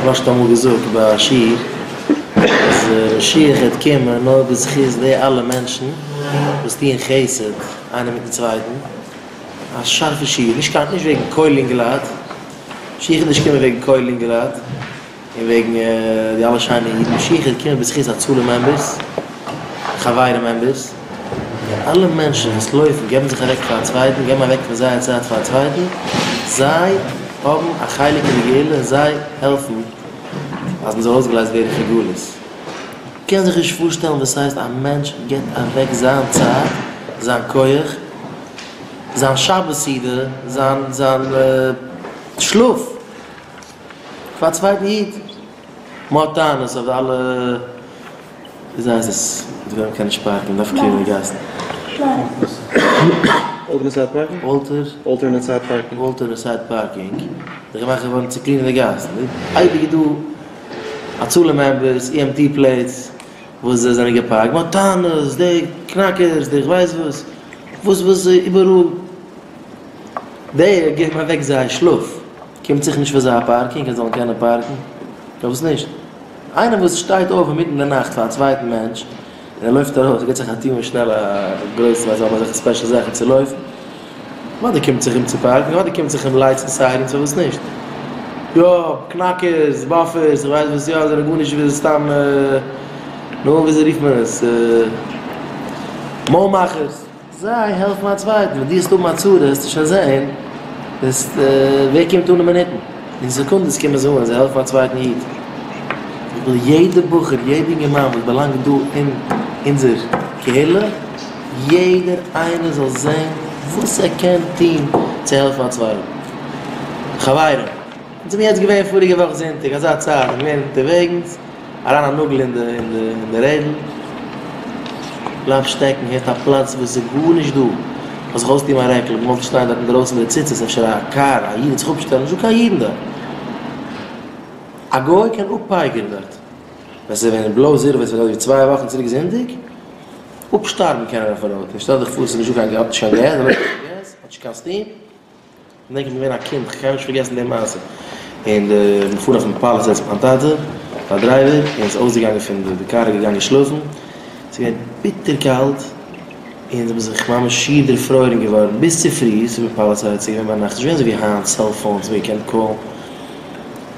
כ'האב שוין אמאל געזאגט ביי א שיעור אז משיח העט קומען נאר בזכות די אלע מענטשן וואס טוען חסד איינער מיטן צווייטן, א שארפע שיעור, נישט קיין נישט וועגן קוילינגראד, משיח איז נישט קומען וועגן קוילינגראד. און וועגן די אלע שיינע אידן שיך איז געקומען בזכות הצלה מעמבערס, חברה מעמבערס, און אלע מענטשן וואס לויפן געבן זיך אוועק פאר א צווייטן, געבן אוועק פון זייער צייט פאר א צווייטן, זיי האבן א חלק אין די גאולה און זיי העלפן אז מען זאל אויסגעלייזט ווערן פון גלות. מען קען זיך נישט פארשטעלן וואס הייסט א מענטש גיבט אוועק זיין צייט, זיין כח, זיין שבת סעודה, זיין זיין שלאף, פאר א צווייטן איד. מען האט טענות אויף די אלע דיזייזעס וואס וועלן קענען נישט פארקן און דארפן קלינען די גאסן. אלטערנעסייד פארקינג? וואלטער. אלטערנעסייד פארקינג. וואלטערנעסייד פארקינג איז געמאכט געווארן צו קלינען די גאסן. אייביג איז דא א צאל מעמבערס, אי עם טי פלעיטס, וואס זיי זענען געפארקט. מען האט טענות, די קנאקערס, די כ'ווייס וואס, וואס וואס איבעראל. די געבן אוועק זייער שלאף. קומט זיך נישט פאר זיי א פארקינג אז זיי זאלן קענען פארקן? פארוואס נישט? איינער וואס שטייט אויף אינמיטן די נאכט פאר א צווייטן מענטש, און ער לויפט ארויס, ער גיבט זיך א טוה און שנעל א גרויסן אז זיי האבן אזעלכע ספעשל זאכן צו לויפן, אוודאי קומט זיך אים צו פארקן, אוודאי קומט זיך אים לייטס און סיירענס, פארוואס נישט? יא, קנאקערס, באפערס, איך ווייס וואס יא, זענען גארנישט וויאזוי סתם, נו, וויאזוי רופט מען עס, מויל מאכערס. זיי העלפן א צווייטן, ווען דו וועסט האבן א צרה העסטו שוין זען ווער קומט אן אין מינוטן, אין סעקונדעס קומען זיי אן און זיי העלפן א צווייטן איד. איך וויל יעדע בחור, יעדע אינגערמאן וואס באלאנגט דא אין אונזער קהילה, יעדער איינער זאל זען וואס ער קען טון צו העלפן א צווייטן. חברים! אונז האבן יעצט געווען פאריגע וואך זונטאג אזא צייט אונז געווען אונטערוועגנס אריין א נאגל אין די רעדל בלייב שטעקן הערט א פלאץ וואס איז גארנישט דא מ'זאל זיך אויסטון מיין רעקל אבער מ'וואלט שטיין דארט אינדרויסן מיט די ציצית אפשר א קאר א איד וועט זיך אפשטעלן נישטא קיין אידן דארט א גוי קען אפפייגערן דארט ווען ס'איז ווען בלוי זירא ווען ס'איז ווען אזויווי צוויי וואכן צוריק זונטאג אפשטארבן קען ער אויפן רויט און שטעל דיך פאר ס'איז נישטא קיין געז האט נישט קיין געז האט נישט קיין סטים. כ'דענק איך בין געווען א קינד, כ'קען נישט פארגעסן די מעשה, און די מ'פארט אויפן פאל איך זעץ מיין טאטע, א דרייווער, און איז אויסגעגאנגען פון די די קאר איז געגאנגען שלאפן, ס'איז געווען ביטער קאלט, און זיי האבן זיך ממש שיער דערפרוירן געווארן ביז צופרי, ס'איז געווען פאל ס'איז געווען ביינאכט, ס'איז נישט געווען אזוי ווי היינט סעלפאונס ווי מ'קען קאלן,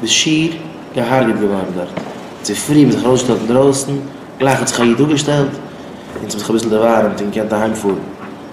ביסט שיער געהארגעט געווארן דארט, צופרי האבן זיי זיך ארויסגעשטעלט אינדרויסן, גלייך האט זיך א איד אפגעשטעלט, און ס'האט זיך אביסל דערווארעמט און געקענט אהיימפארן.